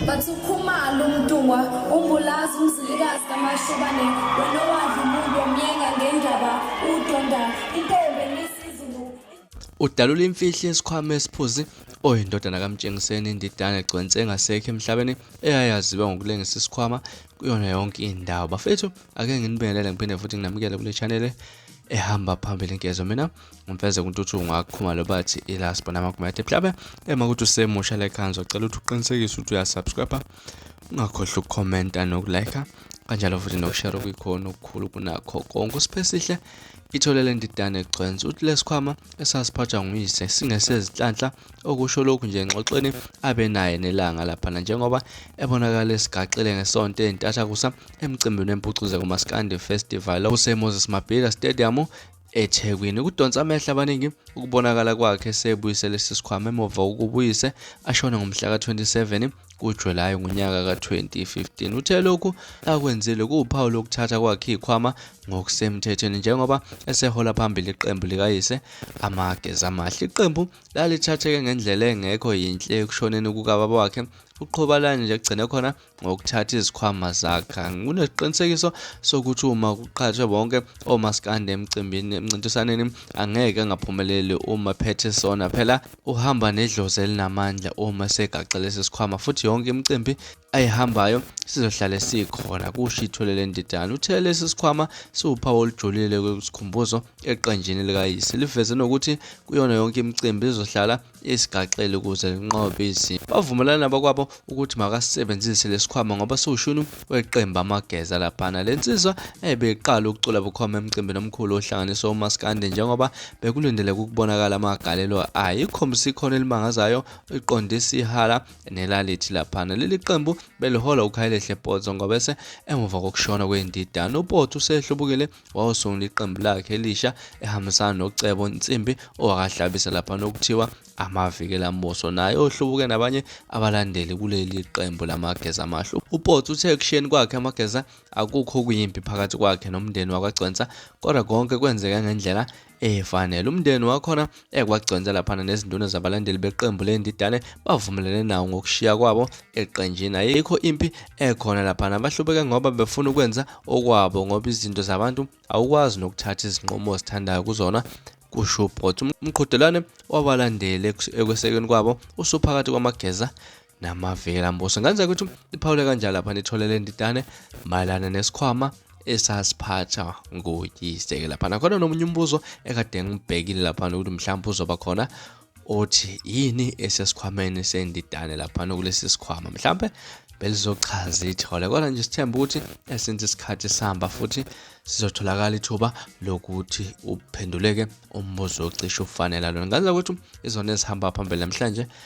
Bathi ukhumalo umntungwa umbulazi umzilikazi kamashobane wena owadla umuntu omyenga ngendaba udonda intombi enisizulu udalula imfihlo yesikhwama esiphuzi oyindodana kamtshengiseni indidane egcwense engasekho emhlabeni eyayaziwa ngokulengisa isikhwama kuyona yonke indawo bafethu ake nginibingelele ngiphinde futhi nginamukele kule chanele ehamba phambili nkezo mina umfezeko untuthuku ngakukhumalo bathi ilast bona amagumathi mhlabe ema ukuthi usemusha lekhanzo cela ukuthi uqinisekise ukuthi uyasubscribe ungakhohlwa ukukhomenta nokulike kanjalo futhi nokushare okuyikhona okukhulu kunakho konke usipesihle itholele ndidane gcwensi uthi lesikhwama esasiphathwa nguyise singesezinhlanhla okusho lokhu nje engxoxweni abe naye nelanga laphana njengoba ebonakala esigaxile ngesonto entathakusa emcimbini wempucuze kumaskandi festival obusemoses mabhida stadium eThekwini. Kudonsa amehlo abaningi ukubonakala kwakhe esebuyise lesi sikhwama emuva ukubuyise ashone ngomhla ka-27 kuJulayi ngonyaka ka-2015. Uthe lokhu akwenzile kuwuphawu lokuthatha kwakhe ikhwama ngokusemthethweni njengoba esehola phambili iqembu likayise amageza amahle. Iqembu lalithatheke ngendlela engekho yinhle ekushoneni kukababa wakhe uqhobalani nje kugcine khona ngokuthatha izikhwama zakha nginesiqinisekiso sokuthi uma kuqhathwe bonke omaskandi emcimbini emncintisaneni angeke angaphumeleli uma phethe sona phela uhamba nedlozi elinamandla uma segaxe lesi sikhwama futhi yonke imicimbi ayihambayo sizohlale sikhona kusho itholele ndidana uthe lesi sikhwama siwuphawu olujulile kwesikhumbuzo eqenjini likayise liveze nokuthi kuyona yonke imicimbi izohlala isigaxele ukuze linqobe izimo. Bavumelana nabakwabo ukuthi makasebenzise lesikhwama ngoba siwushunu weqembu amageza laphana. Le nsizwa ebe iqala ukucula bukhoma emcimbini omkhulu ohlanganisa umaskandi njengoba bekulindeleke ukubonakala amagalelo ayo. Ikhombisa ikhono elimangazayo iqonde isihala nelalithi laphana. Leli qembu belihola uKhayilehle Potso ngobese emuva kokushona kwendidana. UPotso usehlubukile wawusungula iqembu lakhe elisha ehambisana nocebo nsimbi owakahlabisa lapha nokuthiwa amaviki elamboso naye ohlubuke nabanye abalandeli kuleli qembu lamageza amahle upotsi uthe ekushiyeni kwakhe amageza akukho okuyimpi phakathi kwakhe nomndeni wakagcwensa kodwa konke kwenzeka ngendlela efanele umndeni wakhona ekwaconsa laphana nezinduna zabalandeli beqembu lendidane bavumelene nawo ngokushiya kwabo eqenjini ayikho impi ekhona laphana bahlubeke ngoba befuna ukwenza okwabo ngoba izinto zabantu awukwazi nokuthatha izinqumo ozithandayo kuzona kusho ubrot umqhudelwane wabalandeli ekwesekeni kwabo usuphakathi kwamageza namavela mbuso ngenza ukuthi iphawule kanjalo lapha nithole le ndidane mayelana nesikhwama esasiphatha ngoyise-ke lapha nakhona nomunye umbuzo ekade ngibhekile lapha nokuthi mhlawumbe uzoba khona othi yini esesikhwameni sendidane lapha nokulesi sikhwama mhlawumbe belizochaza ithole kodwa nje sithemba ukuthi esince isikhathi sihamba futhi sizotholakala ithuba lokuthi uphenduleke umbuzo ocishe ufanela lona ngazi ukuthi izona ezihamba phambili namhlanje